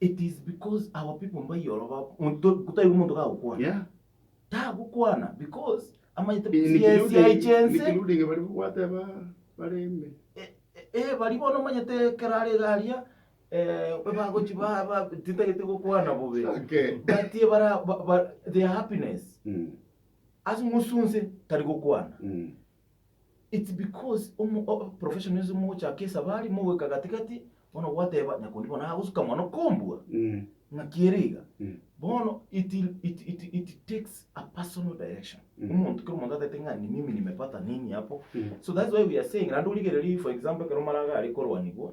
It is because our people mbaiyoro ba monto gutaigwe monto gagokwana. Yeah. Tagokwana because amanyete In sia sia including, echense. including bari gwateba bare ime. Eh, eh, bari bono omanyete ekero are iga aria eh, bagochi ba ba tintagete gokwana bobe. Okay. But ebara ba, ba, their happiness Mm. ase ng'usu nse tari gokwana. Mm. It's because omo o professionalism mogochaka esabari mogoika gati gati bono gwateba nyakundi bono agosuka mono kombua ng'aki ere iga bono it it it it takes a personal direction omonto kera omonto atagete ng'a ni mimi nimepata nini hapo so that's why we are saying naende origererie for example ekero maraga are korwanigwa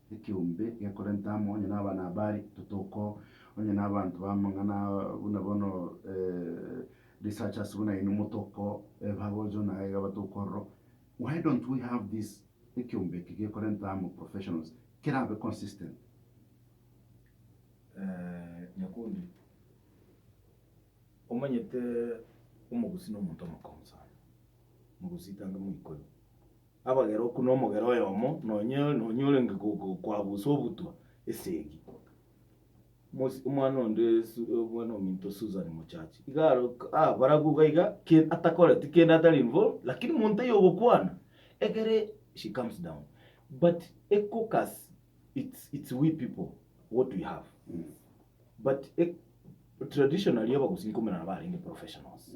ekeombe gekorenta amo, onye nabana abare totoko, onye nabanto bamang'ana buna bono researchers buna inwe motoko ebagocho naye iga batoko ororo, why don't we have this ekeombe eke gekorenta amo professionals kerabe consistent? Nyakundi, omanyete omogusii nomonto omokong'u sana, mogusii tange moikori. Abageroku nomogera oyomo nonye nonye orenge go- go- koabusa obutwa esegi. Mos- omwana onde Su- omwana ominto Susan mochachi, iga aro ah barabu iga iga ke- atakoreti kende atari involved, lakini monto oyo ogokwana, ekere she comes down. But ecocass it's it's we people what we have. But e- traditionally abagusii nkomonana barenge professionals.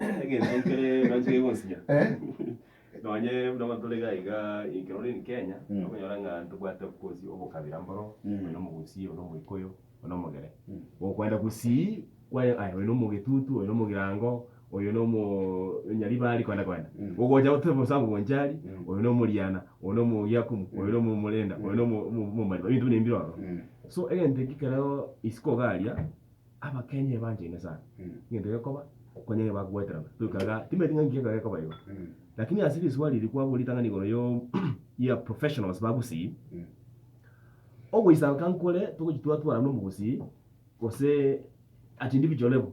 Egento nkere nanche gegonsinya, Eh. nonye buna bono tore iga iga ekero ore in Kenya, Mm. okonyora ng'a ntobwate obosi obokabira mboro, Mm. oyo na omogusii, oyo na omoikoyo, oyo na omogere. Mm. Gokoenda gusii, kware aye oyo na omogetutu, oyo na omogirango, oyo na omo nyaribari kwenda kwenda. Mm. Ogocha gote bosa abwo bonchari, Mm. oyo na omoriana, oyo na omogiakumu, oyo na omomorenda, oyo na omo- omo- omomariba, ebinto buna ebi mbire ororo. Mm. So egento ekio kereo isiko iga aria. Abakenya ebanchaine sana, egento gekoba okonya aye bagweterana toika igaa, timanyeti ng'a inki gekoba igo, lakini ase riswali eri kwabua ritang'ani igoro ya professionals ba gusii, ogoisanka nkore togochi twatwarana omogusii gose at individual level.